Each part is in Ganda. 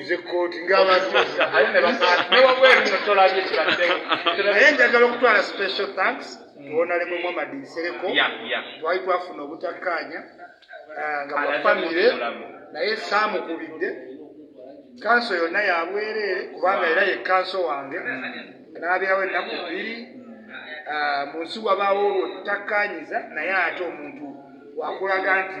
nze kooti ngaabantu newabweru no tolabye kibaddewo naye njagala okutwala special thanks tuwonalemu mm. muhamadi nsereko twali twafuna obutakkaanya ah, nga bwafamire naye saamukubidde kanso yonna yabwereere kubanga era ye kanso wange n'abeerawo ennaku bbiri ah, mu nsi wabaawo olwo tutakkaanyiza naye ate omuntu wakulaga nti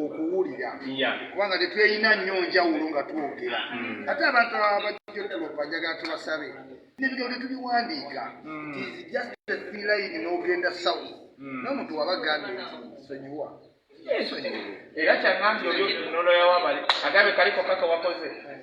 okuwulira kubanga tetweyina nnyo njawulo nga twogera mm. ate abantu abajotolopa njagala tubasabe nebigero tetubiwandiika mm. tizijaline nogenda south mm. nomuntu waba gambye nti sonyiwa era kyagambye oyo noloyawo abali agabe kaliko kaka wakoze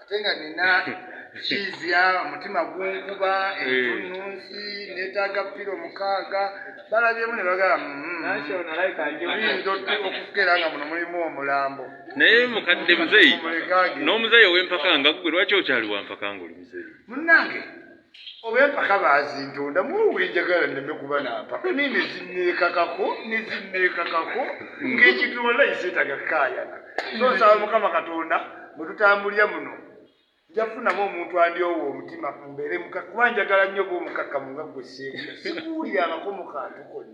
ate nga nina kiizya omutima gunkuba entununsi netaaga pira omukaaga balabyemu ne bagala okukera nga muno mulimu omulambo naye mukadde muzeyi n'omuzeyi owempaka nga gwe lwaki okyali wampaka ngaoli muzeyi munange oba empaka bazintonda muwenjagala neme kuba nampaka naye nezineekakako nezineekakako ngaekintu olaisetaga kukayana so nsaba mukama katonda mwetutambulira muno njafunamu omuntu andyowa omutima mbeere kuba njagala nnyo oba omukakkamu nga gwe sikuwulira abako mu kantu konna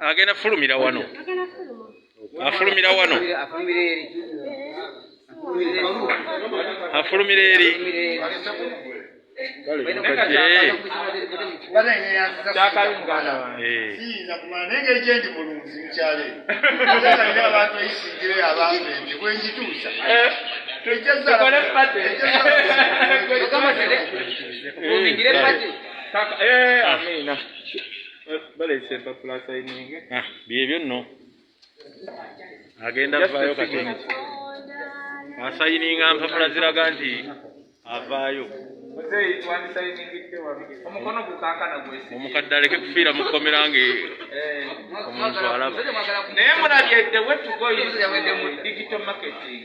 agenda fulumira wano afulumira wano afulumira eri Yeah. baleese empapula asayininge ah, byebyo nno agenda avaayo kati asayininga mpapula ziraga nti avaayo omukadde aleke kufiira mu kkomera nga eh. omuntu alaba naye mulabye the way to go is the digital marketing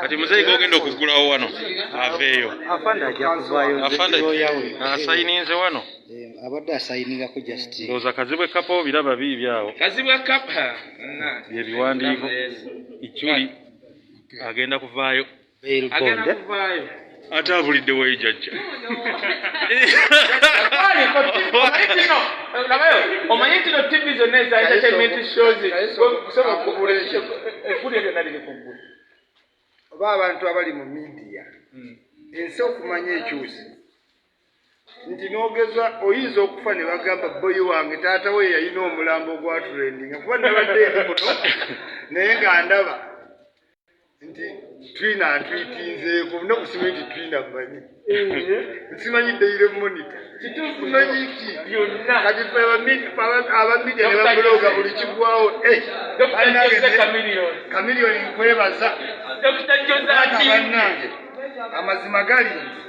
kati muzeeyi gogenda okugulawo wano aveeyo asayininze wano eh, abadde asayiningako just ndowooza kazibwe kapa obiraba biibi awo kazibwe kapa byebiwandiiko iculi agenda kuvaayo ate abulidde wayi jajja omanyi ntino tivi zonna eza entertainment shows kusaba okugula eggulu eryo naliri kuggulu oba abantu abali mu midiya hmm. ensi okumanya ekyusi nti nogeza oyinza okufa ne bagamba boyi wange taata we yalina omulambo ogwaturendinga kuba nabadde eri muno naye nga ndaba nti twina atwitinzeeko nokusimanyi nti twina manyi nsimanyi dayire monita kitukumanyiki kati abamidia nebabuloga buli kigwawo eh, kamiliyoni nkwebaza banange amazima gali nti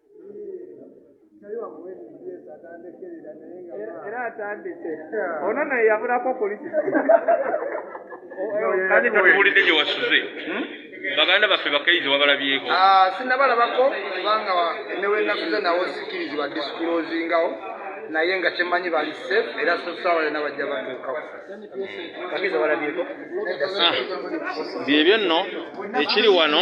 era atandise ono naye yabulako kulisi kati tatuwulidde gye wasuze hmm? baganda baffe bakaizi wabalabyeko ah, sinabalabako kubanga newenasuze nawo sikirizibwa disikulozingawo naye nga kyemanyi bali safe era sosawa yona bajja batuukawo bagezi walabyeko ah, byebyo nno ekiri wano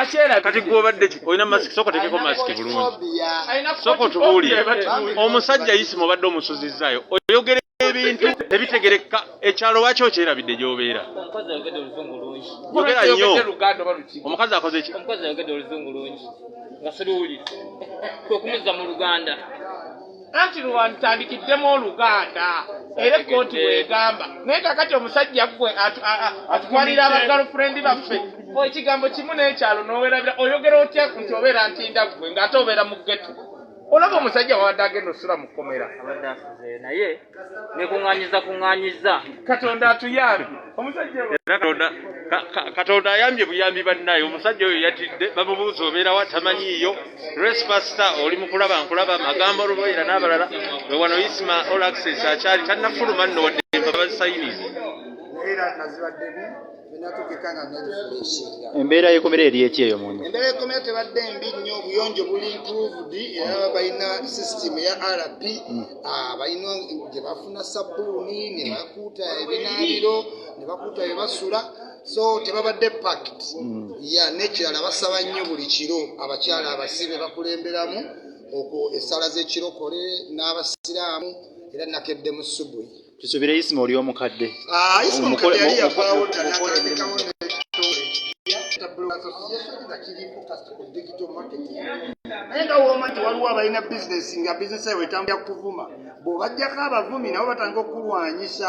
akyera kati gwobadde ki olina mask soko tekeko mask bulungi soko tubuulire omusajja yisima obadde omusuzizaayo oyogere ebintu tebitegereka ekyalo waki okyerabidde gyobeera yogera nnyo omukazi akoze ki nga siriwulire kwekumuzza mu luganda anti lwalutandikidemu oluganda era ekkooti bwegamba naye kakati omusajja gwe atwalira abagalfurendi baffe ekigambo kimu nekyalo nowerabira oyogera otya nti obeera ntinda gwe ngaate obeera mu geto olaba omusajja wabadde agenda osula mu kkomera naye nekuŋanyiza kuŋanyiza katonda atuyambi katonda ayambye buyambi bannaye omusajja oyo yatidde bamubuuza obeerawo atamanyiiyo Grace Pastor oli mu kulaba nkulaba magambo oluboyera n'abalala we wano Isma All Access akyali tannafuluma nno wadde empapa bazisayinize embeera yekomera eri eki eyo muno embeera yekomera tebadde mbi nnyo obuyonjo buli improved era balina system eya rp hmm. ah, balina gye bafuna sabbuuni ne bakuuta ebinaabiro ne bakuuta bye basula so tebabadde pact mm. ya nekirala basaba nnyo buli kiro abakyala abasibe bakulemberamu okwo essala z'ekirokole n'abasiraamu era nakedde mu subui tusubire isima oli omukadde ah, naye nga woma nti waliwo abalina bizinesi nga bizinesi ewe etambulira kuvuma bw'obajjako abavumi nabo batandika okukulwanyisa